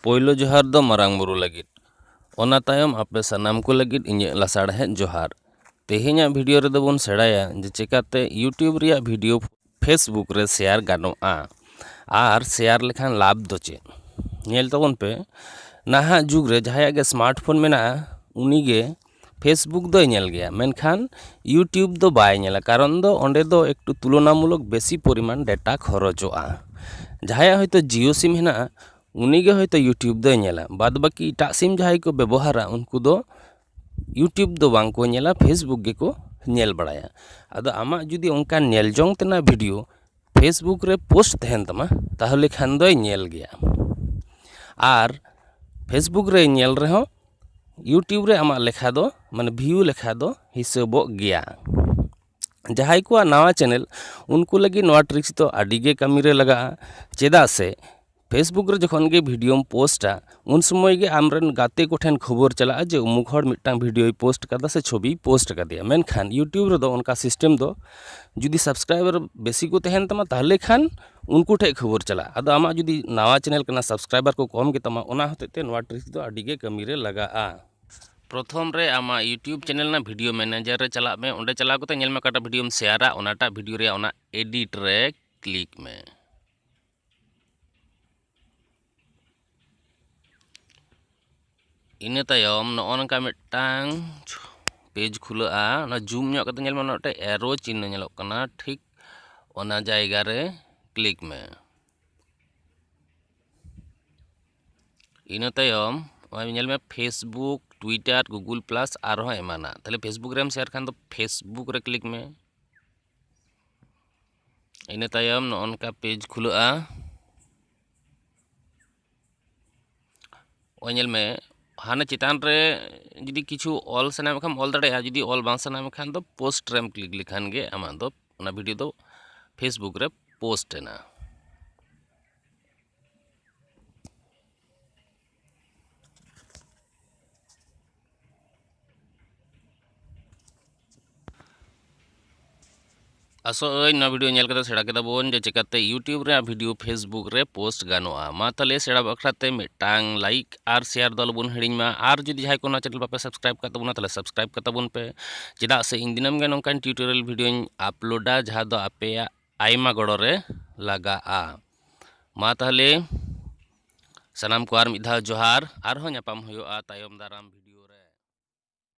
ᱯᱳᱭᱞᱳ ᱡᱚᱦᱟᱨ ᱫᱚ ᱢᱟᱨᱟᱝ ᱵᱩᱨᱩ ᱞᱟᱹᱜᱤᱫ ᱚᱱᱟ ᱛᱟᱭᱚᱢ ᱟᱯᱮ ᱥᱟᱱᱟᱢ ᱠᱚ ᱞᱟᱹᱜᱤᱫ ᱤᱧᱟᱹᱜ ᱞᱟᱥᱟᱲᱦᱮᱫ ᱡᱚᱦᱟᱨ ᱛᱮᱦᱮᱧᱟᱜ ᱵᱷᱤᱰᱤᱭᱳ ᱨᱮᱫᱚ ᱵᱚᱱ ᱥᱮᱬᱟᱭᱟ ᱡᱮ ᱪᱮᱠᱟᱛᱮ ᱤᱭᱩᱴᱤᱭᱩᱵᱽ ᱨᱮᱭᱟᱜ ᱵᱷᱤᱰᱤᱭᱳ ᱯᱷᱮᱥᱵᱩᱠ ᱨᱮ ᱥᱮᱭᱟᱨ ᱜᱟᱱᱚᱜᱼᱟ ᱟᱨ ᱥᱮᱭᱟᱨ ᱞᱮᱠᱷᱟᱱ ᱞᱟᱵᱷ ᱫᱚ ᱪᱮᱫ ᱧᱮᱞ ᱛᱟᱵᱚᱱ ᱯᱮ ᱱᱟᱦᱟᱜ ᱡᱩᱜᱽ ᱨᱮ ᱡᱟᱦᱟᱸᱭᱟᱜ ᱜᱮ ᱥᱢᱟᱨᱴ ᱯᱷᱳᱱ ᱢᱮᱱᱟᱜᱼᱟ ᱩᱱᱤᱜᱮ ᱯᱷᱮᱥᱵᱩᱠ ᱫᱚᱭ ᱧᱮᱞ ᱜᱮᱭᱟ ᱢᱮᱱᱠᱷᱟᱱ ᱤᱭᱩᱴᱩᱵᱽ ᱫᱚ ᱵᱟᱭ ᱧᱮᱞᱟ ᱠᱟᱨᱚᱱ ᱫᱚ ᱚᱸᱰᱮ ᱫᱚ ᱮᱠᱴᱩ ᱛᱩᱞᱚᱱᱟᱢᱩᱞᱚᱠ ᱵᱮᱥᱤ ᱯᱚᱨᱤᱢᱟᱱ ᱰᱮᱴᱟ ᱠᱷᱚᱨᱚᱪᱚᱜᱼᱟ ᱡᱟᱦᱟᱸᱭᱟᱜ ᱦᱚᱭᱛᱳ ᱡᱤᱭᱳ ᱥᱤᱢ ᱦᱮᱱᱟᱜᱼᱟ ᱩᱱᱤᱜᱮ ᱦᱚᱭᱛᱳ ᱤᱭᱩᱴᱩᱵᱽ ᱫᱚᱭ ᱧᱮᱞᱟ ᱵᱟᱫᱽ ᱵᱟᱹᱠᱤ ᱮᱴᱟᱜ ᱥᱤᱢ ᱡᱟᱦᱟᱸᱭ ᱠᱚ ᱵᱮᱵᱚᱦᱟᱨᱟ ᱩᱱᱠᱩ ᱫᱚ ᱤᱭᱩᱴᱩᱵᱽ ᱫᱚ ᱵᱟᱝ ᱠᱚ ᱧᱮᱞᱟ ᱯᱷᱮᱥᱵᱩᱠ ᱜᱮᱠᱚ ᱧᱮᱞ ᱵᱟᱲᱟᱭᱟ ᱟᱫᱚ ᱟᱢᱟᱜ ᱡᱩᱫᱤ ᱚᱱᱠᱟᱱ ᱧᱮᱞ ᱡᱚᱝ ᱛᱮᱱᱟᱜ ᱵᱷᱤᱰᱤᱭᱳ ᱯᱷᱮᱥᱵᱩᱠ ᱨᱮ ᱯᱳᱥᱴ ᱛᱟᱦᱮᱱ ᱛᱟᱢᱟ ᱛᱟᱦᱚᱞᱮ ᱠᱷᱟᱱ ᱫᱚᱭ ᱧᱮᱞ ᱜᱮᱭᱟ ᱟᱨ ᱯᱷᱮᱥᱵᱩᱠ ᱨᱮ ᱧᱮᱞ ᱨᱮᱦᱚᱸ ᱤᱭᱩᱴᱩᱵᱽ ᱨᱮ ᱟᱢᱟᱜ ᱞᱮᱠᱷᱟ ᱫᱚ ᱢᱟᱱᱮ ᱵᱷᱤᱭᱩ ᱞᱮᱠᱷᱟ ᱫᱚ ᱦᱤᱥᱟᱹᱵᱚᱜ ᱜᱮᱭᱟ ᱡᱟᱦᱟᱸᱭ ᱠᱚᱣᱟᱜ ᱱᱟᱣᱟ ᱪᱮᱱᱮᱞ ᱩᱱᱠᱩ ᱞᱟᱹᱜᱤᱫ ᱱᱚᱣᱟ ᱴᱨᱤᱠᱥ ᱫᱚ ᱟᱹᱰᱤᱜᱮ ᱠᱟᱹᱢᱤᱨᱮ ᱞᱟᱜᱟᱜᱼᱟ ᱪᱮᱫᱟᱜ ᱥᱮ ᱯᱷᱮᱥᱵᱩᱠ ᱨᱮ ᱡᱚᱠᱷᱚᱱ ᱜᱮ ᱵᱷᱤᱰᱤᱭᱳᱢ ᱯᱳᱥᱴᱟ ᱩᱱ ᱥᱚᱢᱚᱭ ᱜᱮ ᱟᱢᱨᱮᱱ ᱜᱟᱛᱮ ᱠᱚᱴᱷᱮᱱ ᱠᱷᱚᱵᱚᱨ ᱪᱟᱞᱟᱜᱼᱟ ᱡᱮ ᱩᱢᱩᱠ ᱦᱚᱲ ᱢᱤᱫᱴᱟᱝ ᱵᱷᱤᱰᱤᱭᱳᱭ ᱯᱳᱥᱴ ᱠᱟᱫᱟ ᱥᱮ ᱪᱷᱚᱵᱤᱭ ᱯᱳᱥᱴ ᱠᱟᱫᱮᱭᱟ ᱢᱮᱱᱠᱷᱟᱱ ᱤᱭᱩᱴᱩᱵᱽ ᱨᱮᱫᱚ ᱚᱱᱠᱟ ᱥᱤᱥᱴᱮᱢ ᱫᱚ ᱡᱩᱫᱤ ᱥᱟᱵᱥᱠᱨᱟᱭᱵᱟᱨ ᱵᱮᱥᱤ ᱠᱚ ᱛᱟᱦᱮᱱ ᱛᱟᱢᱟ ᱛᱟᱦᱚᱞᱮ ᱠᱷᱟᱱ ᱩᱱᱠᱩ ᱴᱷᱮᱱ ᱠᱷᱚᱵᱚᱨ ᱪᱟᱞᱟᱜᱼᱟ ᱟᱫᱚ ᱟᱢᱟᱜ ᱡᱩᱫᱤ ᱱᱟᱣᱟ ᱪᱮᱱᱮᱞ ᱠᱟᱱᱟ ᱥᱟᱵᱥᱠᱨᱟᱭᱵᱟᱨ ᱠᱚ ᱠᱚᱢ ᱜᱮᱛᱟᱢᱟ ᱚᱱᱟ ᱦᱚᱛᱮᱡ ᱛᱮ ᱱᱚᱣᱟ ᱴᱨᱤᱠ ᱫᱚ ᱟᱹᱰᱤ ᱜᱮ ᱠᱟᱹᱢᱤ ᱨᱮ ᱞᱟᱜᱟᱜᱼᱟ ᱯᱨᱚᱛᱷᱚᱢ ᱨᱮ ᱟᱢᱟᱜ ᱤᱭᱩᱴᱩᱵᱽ ᱪᱮᱱᱮᱞ ᱨᱮᱱᱟᱜ ᱵᱷᱤᱰᱤᱭᱳ ᱢᱮᱱᱮᱡᱟᱨ ᱨᱮ ᱪᱟᱞᱟᱜ ᱢᱮ ᱚᱸᱰᱮ ᱪᱟᱞᱟᱣ ᱠᱟᱛᱮ ᱧᱮᱞ ᱢᱮ ᱚᱠᱟᱴᱟᱜ ᱵᱷᱤᱰᱤᱭᱳᱢ ᱥᱮᱭᱟᱨᱟ ᱚᱱᱟᱴᱟᱜ ᱵᱷᱤᱰᱤᱭᱳ ᱨᱮᱭᱟᱜ ᱚᱱᱟ ᱮᱰᱤᱴ ᱨᱮ ᱠᱞᱤᱠ ᱢᱮ ᱤᱱᱟᱹ ᱛᱟᱭᱚᱢ ᱱᱚᱜᱼᱚ ᱱᱚᱝᱠᱟ ᱢᱤᱫᱴᱟᱝ ᱯᱮᱡᱽ ᱠᱷᱩᱞᱟᱹᱜᱼᱟ ᱚᱱᱟ ᱡᱩᱢ ᱧᱚᱜ ᱠᱟᱛᱮ ᱧᱮᱞ ᱢᱮ ᱚᱱᱟ ᱢᱤᱫᱴᱮᱱ ᱮᱨᱳ ᱪᱤᱱᱦᱟᱹ ᱧᱮᱞᱚᱜ ᱠᱟᱱᱟ ᱴᱷᱤᱠ ᱚᱱᱟ ᱡᱟᱭᱜᱟ ᱨᱮ ᱠᱞᱤᱠ ᱢᱮ ᱤᱱᱟᱹ ᱛᱟᱭᱚᱢ ᱱᱚᱜᱼᱚᱭ ᱧᱮᱞ ᱢᱮ ᱯᱷᱮᱥᱵᱩᱠ ᱴᱩᱭᱴᱟᱨ ᱜᱩᱜᱩᱞ ᱯᱞᱟᱥ ᱟᱨᱦᱚᱸ ᱮᱢᱟᱱᱟᱜ ᱛᱟᱦᱚᱞᱮ ᱯᱷᱮᱥᱵᱩᱠ ᱨᱮᱢ ᱥᱮᱭᱟᱨ ᱠᱷᱟᱱ ᱫᱚ ᱯᱷᱮᱥᱵᱩᱠ ᱨᱮ ᱠᱞᱤᱠ ᱢᱮ ᱤᱱᱟᱹ ᱛᱟᱭᱚᱢ ᱱᱚᱜᱼᱚ ᱱᱚᱝᱠᱟ ᱯᱮᱡᱽ ᱠᱷᱩᱞᱟᱹᱜᱼᱟ ᱚᱭ ᱧᱮᱞ ᱢᱮ ᱦᱟᱱᱮ ᱪᱮᱛᱟᱱ ᱨᱮ ᱡᱩᱫᱤ ᱠᱤᱪᱷᱩ ᱚᱞ ᱥᱟᱱᱟ ᱢᱮᱠᱷᱟᱱ ᱚᱞ ᱫᱟᱲᱮᱭᱟᱜᱼᱟ ᱡᱩᱫᱤ ᱚᱞ ᱵᱟᱝ ᱥᱟᱱᱟ ᱢᱮᱠᱷᱟᱱ ᱫᱚ ᱯᱳᱥᱴ ᱨᱮᱢ ᱠᱞᱤᱠ ᱞᱮᱠᱷᱟᱱ ᱜᱮ ᱟᱢᱟᱜ ᱫᱚ ᱚᱱᱟ ᱵᱷᱤᱰᱤᱭᱳ ᱫᱚ ᱯᱷᱮᱥᱵᱩᱠ ᱨᱮ ᱯᱳᱥᱴ ᱮᱱᱟ ᱟᱥᱚᱜ ᱟᱹᱧ ᱱᱚᱣᱟ ᱵᱷᱤᱰᱤᱭᱳ ᱧᱮᱞ ᱠᱟᱛᱮ ᱥᱮᱬᱟ ᱠᱮᱫᱟ ᱵᱚᱱ ᱡᱮ ᱪᱮᱠᱟᱛᱮ ᱤᱭᱩᱴᱤᱭᱩᱵᱽ ᱨᱮᱭᱟᱜ ᱵᱷᱤᱰᱤᱭᱳ ᱯᱷᱮᱥᱵᱩᱠ ᱨᱮ ᱯᱳᱥᱴ ᱜᱟᱱᱚᱜᱼᱟ ᱢᱟ ᱛᱟᱦᱚᱞᱮ ᱥᱮᱬᱟ ᱵᱟᱠᱷᱨᱟ ᱛᱮ ᱢᱤᱫᱴᱟᱝ ᱞᱟᱭᱤᱠ ᱟᱨ ᱥᱮᱭᱟᱨ ᱫᱚ ᱟᱞᱚᱵᱚᱱ ᱦᱤᱲᱤᱧ ᱢᱟ ᱟᱨ ᱡᱩᱫᱤ ᱡᱟᱦᱟᱸᱭ ᱠᱚ ᱱᱚᱣᱟ ᱪᱮᱱᱮᱞ ᱵᱟᱯᱮ ᱥᱟᱵᱥᱠᱨᱟᱭᱤᱵᱽ ᱠᱟᱜ ᱛᱟᱵᱚᱱᱟ ᱛᱟᱦᱚᱞᱮ ᱥᱟᱵᱥᱠᱨᱟᱭᱤᱵᱽ ᱠᱟᱛᱟᱵᱚᱱ ᱯᱮ ᱪᱮᱫᱟᱜ ᱥᱮ ᱤᱧ ᱫᱤᱱᱟᱹᱢ ᱜᱮ ᱱᱚᱝᱠᱟᱱ ᱴᱤᱭᱩᱴᱳᱨᱤᱭᱟᱞ ᱵᱷᱤᱰᱤᱭᱳᱧ ᱟᱯᱞᱳᱰᱟ ᱡᱟᱦᱟᱸ ᱫᱚ ᱟᱯᱮᱭᱟᱜ ᱟᱭᱢᱟ ᱜᱚᱲᱚ ᱨᱮ ᱞᱟᱜᱟᱜᱼᱟ ᱢᱟ ᱛᱟᱦᱚᱞᱮ ᱥᱟᱱᱟᱢ ᱠᱚ ᱟᱨ ᱢᱤᱫ ᱫᱷᱟᱣ ᱡᱚᱦᱟᱨ ᱟᱨᱦᱚᱸ ᱧᱟᱯᱟᱢ ᱦᱩᱭᱩᱜᱼᱟ ᱛᱟᱭᱚᱢ ᱫᱟᱨᱟᱢ ᱵᱷᱤᱰᱤᱭᱳ ᱨᱮ